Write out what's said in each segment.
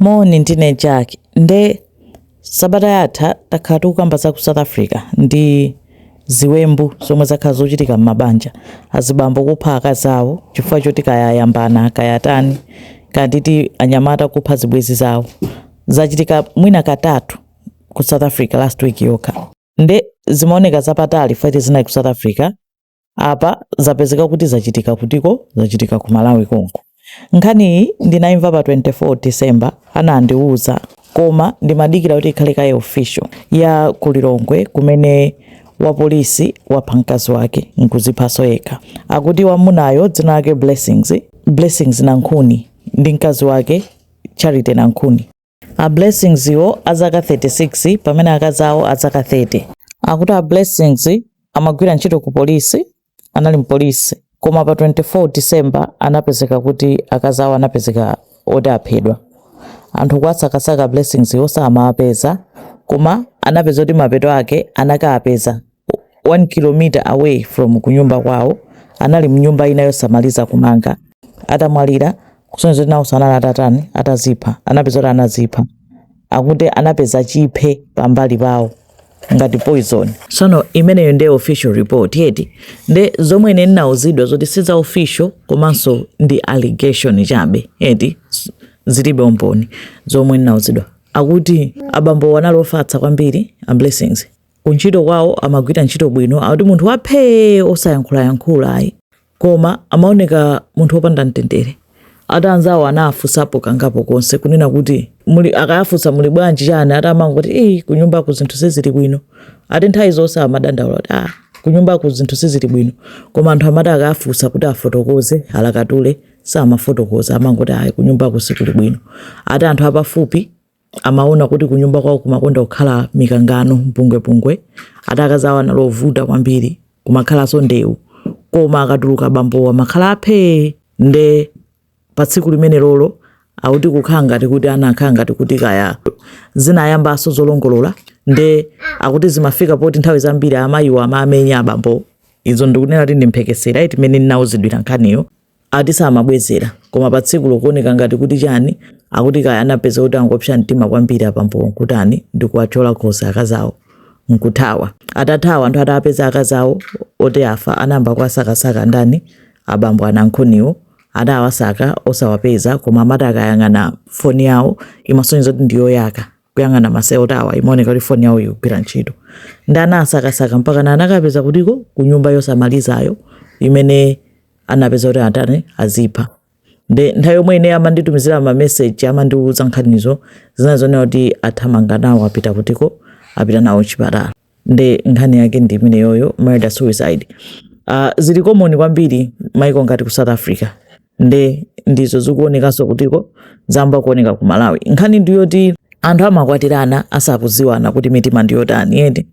Moni ndine Jack nde sabata yatha takhala tikukamba za ku South Africa ndi ziwembu zomwe zakhala zochitika m'mabanja azibambo kupha akazi awo chifukwa choti kaya ayambana kaya atani kaya ndi ti anyamata kupha zibwezi zawo zachitika mwina katatu ku South Africa last week yokha nde zimaoneka zapatali poti zinali ku South Africa apa zapezeka kuti zachitika kutiko zachitika ku malawi konko nkhaniyi ndinayimva pa 24 december anandiwuza koma ndimadikira kuti ikhale kaye official ya kulilongwe kumene wapolisi wapha mkazi wake nkuziphaso yekha akuti wamunayo dzina lake blessings blessings nankhuni ndi mkazi wake charity nankhuni a blessings wo azaka 36 pamene akazi awo azaka 30 akuti a blessings amagwira ntchito ku polisi anali mpolisi koma pa 24 december anapezeka kuti akazi awo anapezeka oti aphedwa anthu kuwasakasaka a blessings wo samawapeza koma anapeza kuti mapeto ake anakawapeza 1 km away from kunyumba kwawo anali mnyumba ina yosamaliza kumanga atamwalira kusonyeza kuti nawonso anali atatani atazipha anapeza kuti anazipha akuti anapeza chiphe pambali pawo ngati poison sono imeneyo ndiye official report yo eti nde zomwe ine ndinauzidwa zoti si za official komanso ndi allegation chabe eti zilibe umboni zomwe ndinauzidwa akuti abambo anali ofatsa kwambiri a blessings kuntchito kwawo amagwira ntchito bwino akuti munthu waphee osayankhulayankhula ayi koma amaoneka munthu wopanda mtendere ati anzawo anawafunsapo kangapo konse kunena kuti muli akawafunsa muli bwanji chani ati amangoti eyi kunyumbaku zinthu sizili bwino ati nthawi zonse amadandaula kuti ah kunyumbaku zinthu sizili bwino koma anthu amati akawafunsa kuti afotokoze alakatule samafotokoza amangoti ayi kunyumbaku sikuli bwino ati anthu apafupi amaona kuti kunyumba kwawo kumakonda kukhala mikangano, mpungwepungwe. Ati akazi awo anali ovuta kwambiri, kumakhalanso ndewu. Koma akatuluka abambowo amakhala aphee! Nde pa tsiku limenelolo akuti kukhala ngati kuti anakhala ngati kuti kaya zinayambanso zolongolola nde akuti zimafika poti nthawi zambiri amayiwo amamenya abambowo. Izo ndikunena kuti ndi mphekesera eti mmene ndinauzidwira nkhaniyo. ati samabwezera koma pa tsikulo kuoneka ngati kuti chani akuti kaya anapeza kuti anangopsa mtima kwambiri abambowo nkutani ndikuwathyola khosi akazawo nkuthawa atathawa anthu atapeza akazawo oti afa anayamba kuwasakasaka ndani abambo anankhuniwo adawasaka osawapeza koma amati akayang'ana foni yawo imasonyeza kuti ndiyoyaka kuyang'ana ma network awa imaoneka kuti foni yawo ikugwira ntchito nde anasakasaka mpakana anakawapeza kutiko ku nyumba yosamalizayo imene anapeza kuti atani azipha nde nthawi yomwe ine amanditumizira ma message amandiuza nkhanizo zina zonena kuti athamanga nawo apita kutiko apita nawo chipatala nde nkhani yake ndi imeneyoyo murder suicide uh, zili common kwambiri maiko ngati ku south africa nde ndizo zikuonekanso kuti zayamba kuoneka ku malawi nkhani ndiyoti anthu amakwatirana asakuziwana kuti mitima ndiyotani ende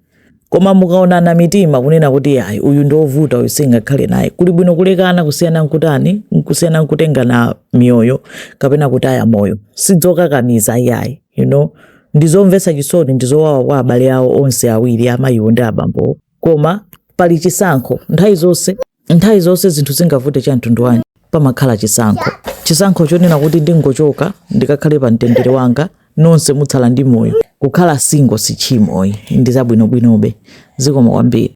Koma mukaonana mitima kunena kuti yayi uyu ndi ovuta uyu singakhale naye, kuli bwino kulekana kusiyana nkutani kusiyana nkutengana miyoyo kapena kutaya moyo. Sizokakamiza yayi you know ndizomvetsa chisoni ndizowawa kwa abale awo onse awiri amayiwo ndi abambowo koma pali chisankho nthawi zonse. Nthawi zonse zinthu zingavute cha mtundu wanji, pamakhala chisankho. Chisankho chonena kuti ndingochoka ndikakhale pa mtendere wanga, nonse mutsala ndi moyo. Kukhala single si tchimo, ndi zabwinobwinobe. Zikomo kwambiri.